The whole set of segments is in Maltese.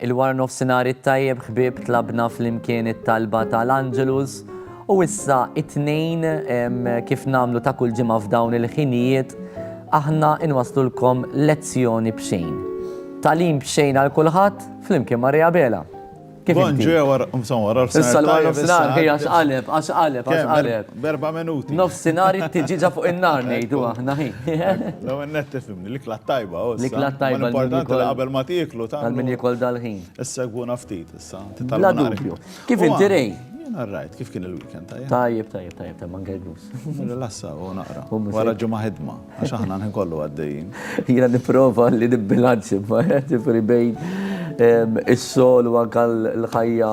Il-wara nofsinhar it-tajjeb ħbieb tlabna flimkien it-talba tal-Angelus u issa it-tnejn kif namlu ta' kull ġimgħa f'dawn il-ħinijiet aħna inwaslulkom lezzjoni b'xejn. Talim b'xejn għal kulħadd flimkien Maria Bela. Kif Bon ġie wara insomma wara l-fsinar. Issa wara l-fsinar ħej għax qaleb, għax qaleb, għax qaleb. Berba minuti. Nofsinhar it-tiġiġa fuq in-nar ngħidu aħna ħin. Law in-net tifhimni l-ikla tajba u. L-ikla tajba. Importanti li qabel ma tieklu ta' min jikol dal-ħin. Issegwuna ftit issa. Bla dubju. Kif inti rej? Jien rajt kif kien il-weekend tajjeb. Tajjeb, tajjeb, tajjeb, tajjeb, Rilassa u naqra. Wara ġimgħa ħidma, għax aħna nħin kollu għaddejjin. Jiena nipprova li nibbilanċi ġifri bejn ehm, is-sol u anke l-ħajja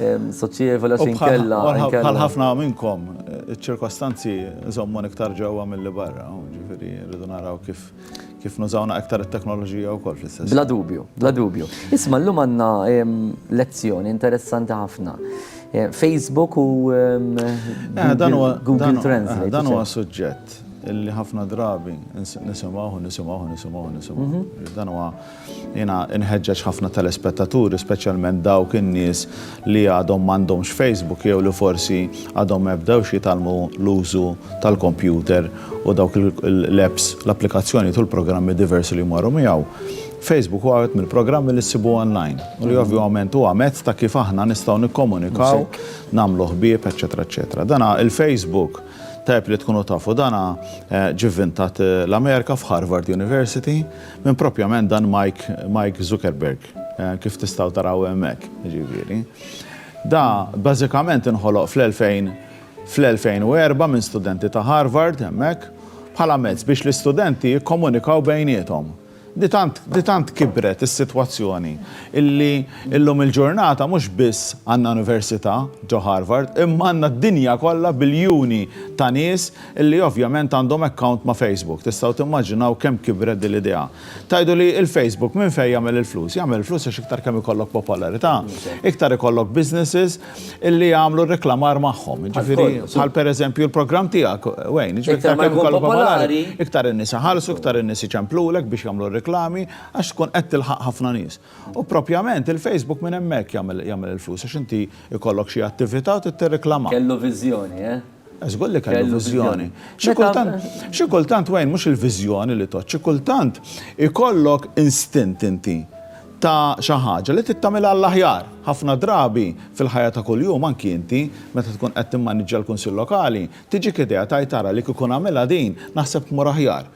ehm, soċjevoli għax inkella. Bħal ħafna minnkom, iċ-ċirkostanzi żommon iktar ġewwa mill-li barra, ġifieri rridu naraw kif Kif nużawna iktar it-teknoloġija wkoll fl-istess. Bla dubju, bla dubju. Isma' llum għandna lezzjoni interessanti ħafna. Facebook u Google Translate. Dan huwa suġġett li ħafna drabi nisimgħu, nisimgħu, nisimgħu, nisimgħu. Dan huwa. Jiena nħeġġeġ ħafna telespettaturi, speċjalment dawk in-nies li għadhom m'għandhomx Facebook jew li forsi għadhom ma bdewx jitgħallmu l-użu tal-kompjuter u dawk l-apps, l-applikazzjonijiet u l-programmi diversi li jmorru miegħu. Facebook huwa wieħed mill-programmi li ssibu online u li ovvjament huwa mezz ta' kif aħna nistgħu nikkomunikaw, nagħmlu ħbieb, eċċetera eċċetera. Dana il-Facebook, tajjeb li tkunu tafu dana, ġie vvintat l-Amerika f'Harvard University, Min propjament dan Mike Zuckerberg, kif tistgħu taraw hemmhekk, jiġifieri. Da bażikament inħoloq fl-2004 minn studenti ta' Harvard hemmhekk bħala mezz biex l-istudenti jikkomunikaw bejniethom. Di tant kibret is-sitwazzjoni illi llum il-ġurnata mhux biss għandna università ġo Harvard imma għandna d-dinja kollha biljuni ta' nies Illi ovvjament għandhom account ma' Facebook. Tistgħu timmaġinaw kemm kibret din l-idea. Tgħidu li il-Facebook minn fejn jagħmel il-flus? Jagħmel il-flus għax iktar kemm ikollok popolarità, iktar ikollok businesses illi jagħmlu r-reklamar magħhom. Jiġifieri bħal per eżempju l-programm tiegħek, Wayne. Jiġifieri iktar kemm ikollok popolari, iktar in-nies iħallsu, iktar in-nies iċemplulek biex jagħmlu r-reklami għax tkun qed tilħaq ħafna nies. U propjament il-Facebook minn hemmhekk jagħmel il-flus għax inti jkollok xi attività u trid tirreklama. Kellu viżjoni, eh? Żgur li kellu viżjoni. Xi kultant wejn mhux il-viżjoni li tgħodd, xi kultant ikollok instint inti ta' xi ħaġa li trid tagħmilha għall-aħjar. Ħafna drabi fil-ħajja ta' kuljum anki inti meta tkun qed timmaniġġja l-Kunsill Lokali, tiġik idea tgħid ara li kieku nagħmilha din naħseb tmur aħjar.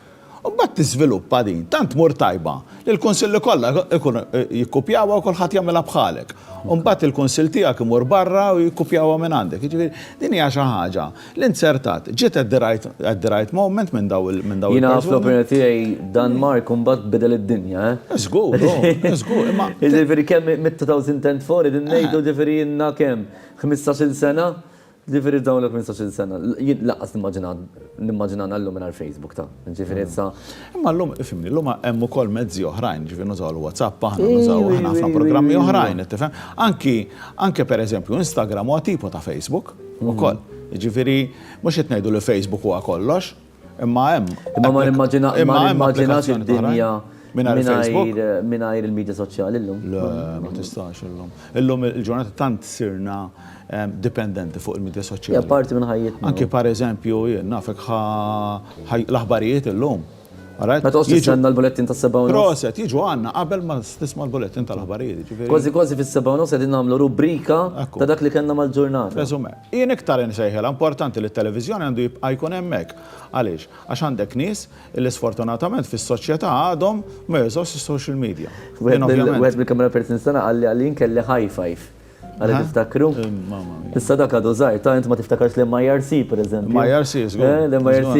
U mbagħad tiżviluppa din, tant tmur tajba li l-kunsilli kollha jkunu jikkupjawha u kulħadd jagħmilha bħalek. U mbagħad il-kunsill tiegħek imur barra u jikkupjawha minn għandek. Jiġifieri din hija xi ħaġa li nzertat. Ġiet at the right at the right moment minn dawn il-persuni. Jiena fl-opinjoni tiegħi Dan Mark mbagħad bidel id-dinja, eh? Żgur, oh, żgur, imma. Jiġifieri kemm mit-2004 qegħdin ngħidu jiġifieri ilna kemm? Ħmistax-il sena? Ġifieri f'dawn il-15-il sena, jien lanqas nimmaġina nimmaġinana llum mingħajr Facebook, ta', ġifieri issa. Imma llum, ifhimni, llum hemm ukoll mezzi oħrajn, ġifieri nużaw il-WhatsApp aħna, nużaw aħna ħafna programmi oħrajn, qed tifhem? Anki, anke pereżempju Instagram huwa tipo ta' Facebook ukoll. Jiġifieri mhux qed ngħidu li Facebook huwa kollox. Imma hemm. Imma ma nimmaġina imma nimmaġinax id-dinja mingħajr il-medja soċjali llum. Le, ma tistax illum. Illum il-ġurnata tant sirna dipendenti fuq il-medja soċjali. Hija parti minn ħajjitna. Anke pereżempju jien nafek l-aħbarijiet illum. Ma tgħodx tistenna l-bulettin tas-seba' u nofs. Proset, jiġu għandna qabel ma tisma' l-bulettin tal-aħbarijiet. Kważi kważi fis-seba' u nofs qegħdin nagħmlu rubrika ta' dak li kellna mal-ġurnata. Resume. Jien iktar insejħilha importanti li t-televiżjoni għandu jibqa' jkun hemmhekk. Għaliex? Għax għandek nies illi sfortunatament fis-soċjetà għadhom ma jużawx is-social media. Jien ovvjament. Wieħed mill-camera persons tagħna qalli għal jien kelli high five. Għalli tiftakru? Mamma mia. Issa dak għadu żgħir, ta' int ma tiftakarx l-MIRC pereżempju. MIRC, żgur. Eh, l-MIRC.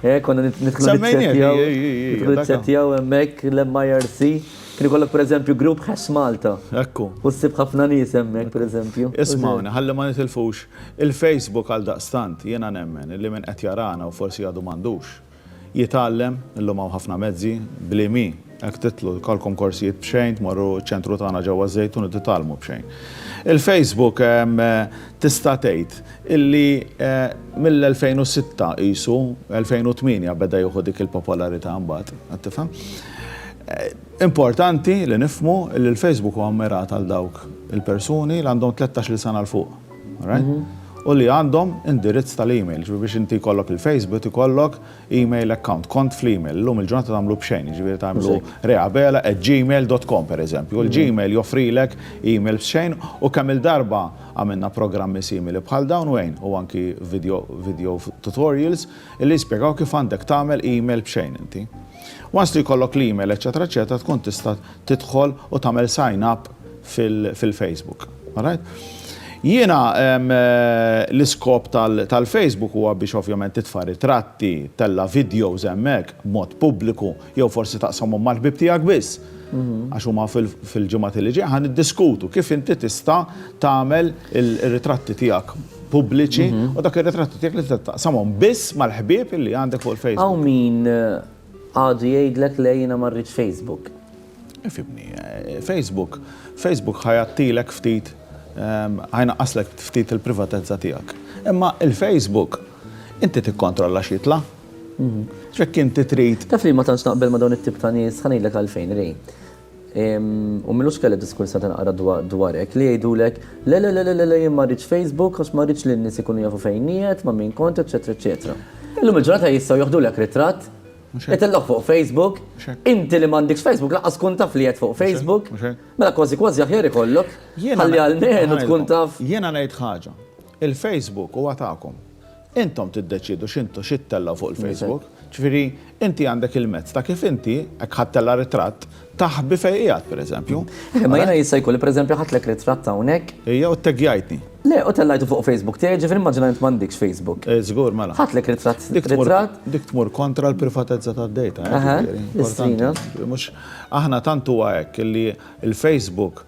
Eh, konna nidħlu nitsettjaw. Semmejnieh, ej, ej, ej. Nidħlu nitsettjaw hemmhekk l-MIRC. Kien ikollok pereżempju grupp Ħess Malta. Ekku. U ssib ħafna nies hemmhekk pereżempju. Ismgħuni, ħalli ma nitilfux il-Facebook għaldaqstant jiena nemmen illi min qed jarana u forsi għadu m'għandux, jitgħallem, illum hawn ħafna mezzi, bli mi, hekk titlu, jkollkom korsijiet b'xejn, tmorru ċ-ċentru tagħna ġewwa ż-Żejtun u titgħallmu b'xejn. Il-Facebook tista' tgħid illi mill-2006 qisu, 2008 beda jieħu dik il-popolarità mbagħad, qed tifhem? Importanti li nifhmu li l-Facebook huwa mmirat għal dawk il-persuni li għandhom tlettax-il sena 'l fuq, alright? U li għandhom indirizz tal-email, jiġifieri biex inti jkollok il-Facebook ikollok email account, kont fl-email. Illum il-ġurnata tagħmlu b'xejn, jiġifieri tagħmlu reabela@gmail.com pereżempju. Il-Gmail joffrilek email b'xejn u kemm-il darba għamilna programmi simili bħal dawn u għin, u anki video tutorials, li jispjegaw kif għandek tagħmel email b'xejn inti. Once li jkollok l-email eċċetera eċċetera tkun tista' tidħol u tagħmel sign up fil-Facebook. Alright? Jiena l-iskop tal-Facebook huwa biex ovvjament titfa' ritratti, tella' videos hemmhekk b'mod pubbliku jew forsi taqsamhom mal-ħbieb tiegħek biss. Għax huma fil-ġimgħat li ġejjin ħa niddiskutu kif inti tista' tagħmel ir-ritratti tiegħek. pubbliċi u dak ir-ritratti tiegħek li tista' taqsamhom biss mal-ħbieb li għandek fuq il-Facebook. Hawn min għadu jgħidlek le jiena ma rridx Facebook. Ifhimni, Facebook, Facebook ħajattilek ftit ħajnaqqaslek ftit il-privatezza tiegħek. Imma il-Facebook inti tikkontrolla xitla. Ġekk inti trid. Taf li ma tantx naqbel ma dawn it-tip ta' nies, ħanejlek għalfejn rej. U m'ilux kelli diskurs ta' tinqara dwar hekk, li jgħidulek, Le, le, le, le, le, jien ma rridx Facebook għax ma rridx li n-nies ikunu jafu fejn qiegħed, ma' min kont, eċċetera, eċċetera. Illum il-ġurnata jistgħu joħdulek ritratt, itellgħuh fuq Facebook, inti li m'għandekx Facebook lanqas tkun taf li qiegħed fuq Facebook, mela kważi kważi aħjar ikollok, ħalli almenu tkun taf. Jiena ngħid ħaġa, il-Facebook huwa tagħkom. Intom tiddeċiedu x'intu xi ttellgħu fuq il-Facebook. Ġifieri, inti għandek il-mezz ta' kif inti, jekk ħadd tella' ritratt, taħbi fejn qiegħed, pereżempju. Imma jiena jista' jkun li pereżempju ħadtlek ritratt hawnhekk. Ija u tteggajtni. Le, u tellajtu fuq Facebook tiegħi, ġifieri immaġina li int m'għandikx Facebook. Żgur, mela. Ħadtlek ritratt, ritratt. Dik tmur kontra l-privatezza tad-data, eh, ġifieri. Importanti. Mhux, aħna tant huwa hekk li l-Facebook,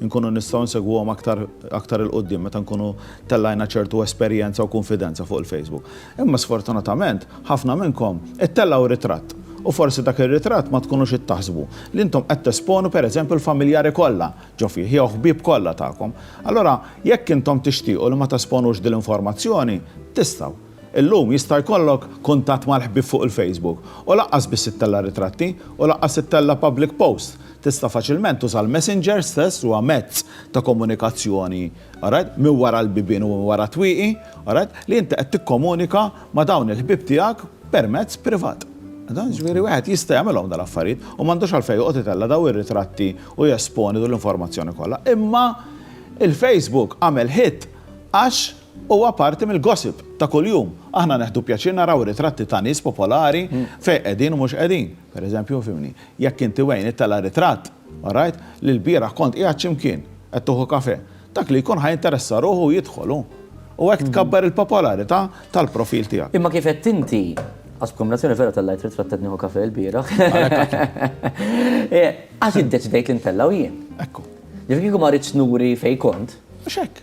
inkunu nistgħu nsegwuhom aktar aktar 'il quddiem meta nkunu tellajna ċertu esperjenza u kunfidenza fuq il-Facebook. Imma sfortunatament, ħafna minnkom ittellgħu ritratt u forsi dak ir-ritratt ma tkunux qed taħsbu li intom qed tesponu pereżempju l-familjari kollha ġo fih jew ħbieb kollha tagħkom. Allura jekk intom tixtiequ li ma tesponux din l-informazzjoni, tistgħu. Illum jista' jkollok kuntatt mal-ħbieb fuq il-Facebook u lanqas biss ittella' ritratti u lanqas ittella' public posts. Tista' faċilment tuża l-Messenger stess li huwa mezz ta' komunikazzjoni, alright, minn wara l-bibien u minn wara t-twieqi, alright, li inti qed tikkomunika ma' dawn il-ħbieb tiegħek permezz privat. Jiġifieri wieħed jista' jagħmilhom dawn l-affarijiet u m'għandux għalfejn joqgħod itella' dawn ir-ritratti u jesponi din l-informazzjoni kollha. Imma il-Facebook għamel hit għax Huwa parti mill-gossip ta' kuljum. Aħna neħdu pjaċir naraw ritratti ta' nies popolari fejn qegħdin u mhux qegħdin. Pereżempju, fhimni, jekk inti Wayne ittella' ritratt, alright, li lbieraħ kont qiegħed xi mkien, qed tieħu kafè, dak li jkun ħa jinteressa ruħu u jidħol hu. U hekk tkabbar il-popolarità tal-profil tiegħek. Imma kif għedt inti, għax b'kombinazzjoni vera tellajt ritratt qed nieħu kafè lbieraħ. Għax iddeċidejt li ntellgħu jien. Ekku. Ġifieri kieku ma ridtx nuri fejn kont. Mhux hekk.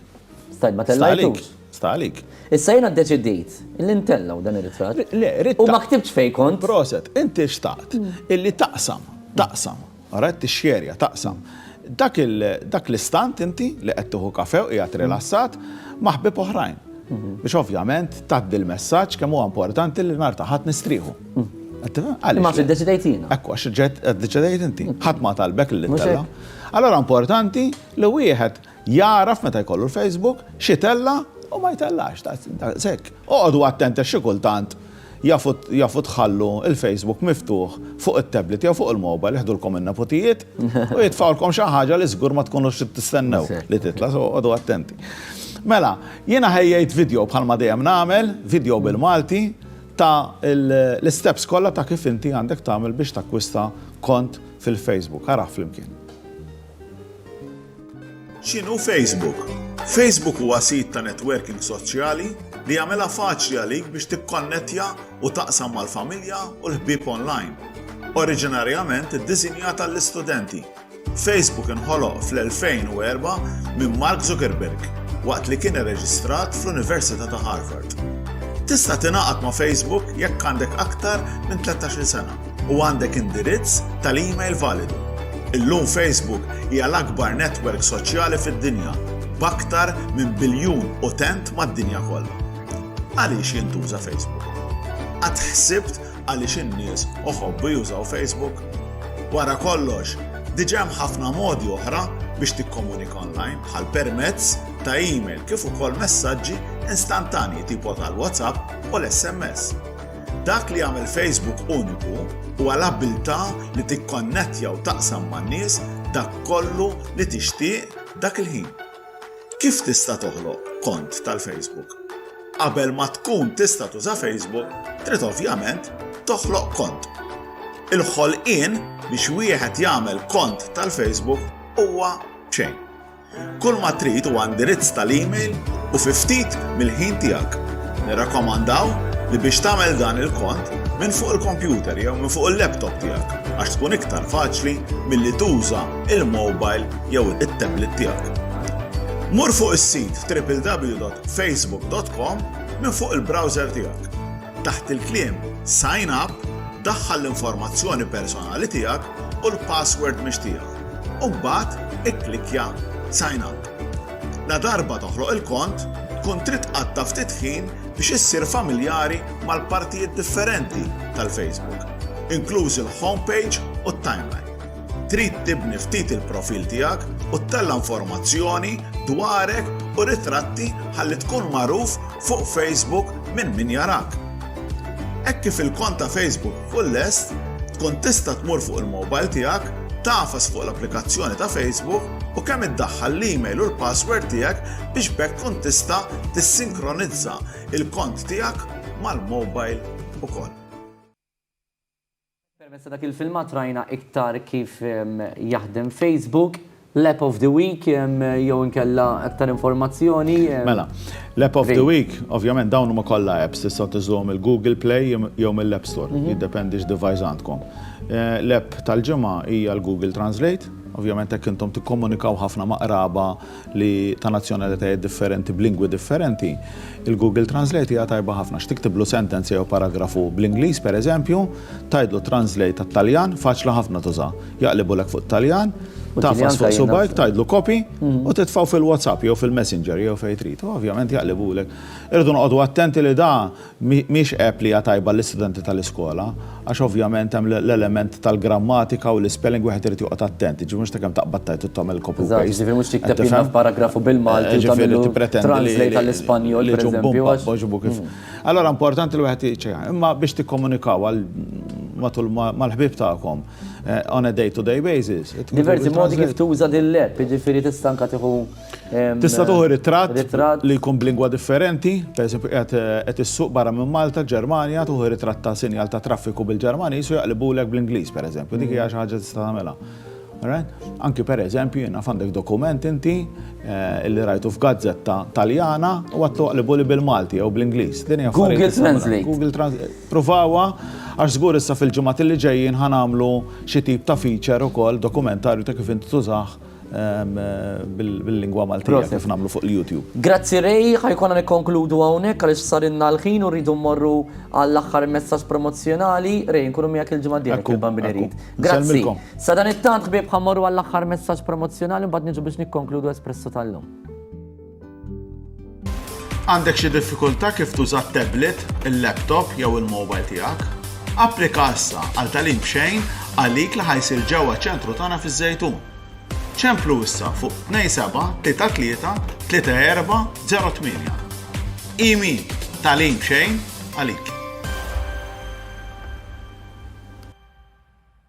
Stajt ma tellajtux. Sta għalik. Issa jena deċidit li ntellaw dan ir-ritratt. Le, ritratt. U ma ktibx fej kont. Proset, inti xtaqt mm. illi taqsam, taqsam, għaret t-xjerja, taqsam. Dak l-istant inti li qed tuħu kafew qiegħed mm. rilassat maħbib oħrajn. Mm-hmm. Biex ovvjament taddi l-messaġġ kemm huwa importanti li nar taħat nistrieħu. Mm. Ma fi deċidejt jina. Ekku, għax deċidejt inti. ħat ma talbek li t-tella. Allora importanti li wieħed Jagħraf meta jkollu l-Facebook x'itella' u ma jtellax, daqs hekk. Oqogħdu attent għax xi kultant jafu tħallu l-Facebook miftuħ fuq it-tablet jew fuq il-mobile jiħdulkom in-neputijiet u jitfgħulkom xi ħaġa li żgur ma tkunux trid tistennew li titla', so oqogħdu attenti. Mela, jiena ħejjejt video bħalma dejjem nagħmel, video bil-Malti, ta' l-isteps kollha ta' kif inti għandek tagħmel biex takkwista kont fil-Facebook. Araħ flimkien. X'inhu Facebook? Facebook huwa sit ta' netwerking soċjali li jagħmilha faċli għalik biex tikkonnettja u taqsam mal-familja u l-ħbieb onlajn. Oriġinarjament iddisinjat għall-istudenti, Facebook inħoloq fl-2004 minn Mark Zuckerberg waqt li kien irreġistrat fl-Università ta' Harvard. Tista' tingħaqad ma' Facebook jekk għandek aktar minn 13-il sena. u għandek indirizz tal-email validu. Illum Facebook hija l-akbar netwerk soċjali fid-dinja b'aktar minn biljun utent mad-dinja kollha. Għaliex jintuża Facebook? Għad ħsibt għaliex in-nies oħobbu jużaw Facebook? Wara kollox, diġa hemm ħafna modi oħra biex tikkomunika online bħal permezz ta' email kif ukoll messaġġi instantanji tipo tal-WhatsApp u l-SMS. Dak li jagħmel Facebook uniku huwa l-abbiltà li tikkonnettja u taqsam man-nies dak kollu li tixtieq dak il-ħin. Kif tista' toħloq kont tal-Facebook? Qabel ma tkun tista' tuża Facebook, trid ovvjament toħloq kont. Il-ħolqien biex wieħed jagħmel kont tal-Facebook huwa b'xejn. Kull ma trid huwa indirizz tal-email u fi ftit mill-ħin tiegħek. Nirrakkomandaw li biex tagħmel dan il-kont minn fuq il-kompjuter jew minn fuq il-laptop tiegħek għax tkun iktar faċli milli tuża il-mobile jew it-tablet tiegħek. Mur fuq is-sit www.facebook.com minn fuq il-browser tiegħek. Taħt il-kliem Sign Up daħħal l-informazzjoni personali tiegħek u l-password mixtieqa. u mbagħad ikklikkja Sign Up. Ladarba toħloq il-kont, tkun trid tqatta' ftit ħin biex issir familjari mal-partijiet differenti tal-Facebook, inklużi l-home page u t-timeline. Trid tibni ftit il-profil tiegħek u ttella' informazzjoni dwarek u ritratti ħalli tkun magħruf fuq Facebook minn min jarak. Hekk kif il-kont ta' Facebook Tkun lest, tkun tista' tmur fuq il-mobile tiegħek, tagħfas fuq l-applikazzjoni ta' Facebook u kemm iddaħħal l-email u l-password tiegħek biex b'hekk tkun tista' tissinkronizza il-kont tiegħek mal-mobile ukoll. Permezz ta' dak il-filmat rajna iktar kif jaħdem Facebook. L-App of the Week jew inkella aktar informazzjoni? Mela, l-App of the Week, ovvjament dawn huma kollha apps, tistgħu tinżluhom mill-Google Play jew mill-App Store, jiddependi x'device għandkom. L-app tal-ġimgħa hija l-Google Translate, ovvjament hekk intom tikkomunikaw ħafna ma' qraba li ta' nazzjonalitajiet differenti b'lingwi differenti, il-Google Translate hija tajba ħafna għax tiktiblu sentenza jew paragrafu bl-Ingliż, pereżempju, tgħidlu translate għat-Taljan, faċli ħafna tuża. Jaqlibulek fuq it-Taljan, tagħfas fuq subgħajk, tgħidlu copy u titfgħu fil-WhatsApp jew fil-Messenger jew fejn trid. U ovvjament jaqlibulek. Irridu noqogħdu attenti li da mhix app li hija tajba għall-istudenti tal-iskola għax ovvjament hemm l-element tal-grammatika u l-ispelling wieħed irid joqgħod attent, jiġifieri mhux ta' kemm taqbad tgħid u tagħmel copy u paste. Eżatt, jiġifieri mhux tikteb jiena f'paragrafu bil-Malti u tagħmillu translate għall-Ispanjol, pereżempju, għax. Allura importanti li wieħed jiċċekkja. Imma biex tikkomunikaw matul mal-ħbieb tagħkom. eh, on a day-to-day basis. Diversi modi kif tuża din l-app, jiġifieri tista' anke tieħu. Tista' tuħu ritratt li jkun b'lingwa differenti, pereżempju qed eh, issuq barra minn Malta, Ġermanja, tuħu ritratt ta' sinjal ta' traffiku bil-Ġermaniż u jaqlibulek bl-Ingliż pereżempju, dik hija xi ħaġa tista' tagħmilha. Anki per eżempju, jina fandek dokument inti eh, li rajtu f'gazzetta taljana u għattu għalibuli bil-Malti jew bl-Inglis. Google Translate. Google Translate. Provawha għax żgur issa fil-ġimgħat li ġejjin ħa nagħmlu xi tip ta' feature ukoll, dokumentarju ta' kif inti tużah bil-lingwa Maltija kif nagħmlu fuq il-YouTube. Grazzi Ray, ħa jkollna nikkonkludu hawnhekk għaliex sarilna l-ħin u rridu mmorru għall-aħħar messaġġ promozzjonali. Ray, inkunu miegħek il-ġimgħa d-dieħla jekk il-Bambin irid. Grazzi. Sadanittant ħbieb ħa mmorru għall-aħħar messaġġ promozzjonali mbagħad niġu biex nikkonkludu Espresso tal-lum. Għandek xi diffikultà kif tuża t-tablet, il-laptop jew il-mobile tiegħek? Applika issa għal tagħlim b'xejn għalik li ħa jsir ġewwa ċ-ċentru tagħna fiż-Żejtun. Ċemplu issa fuq 27 33 34 08. Imi, tagħlim b'xejn għalik.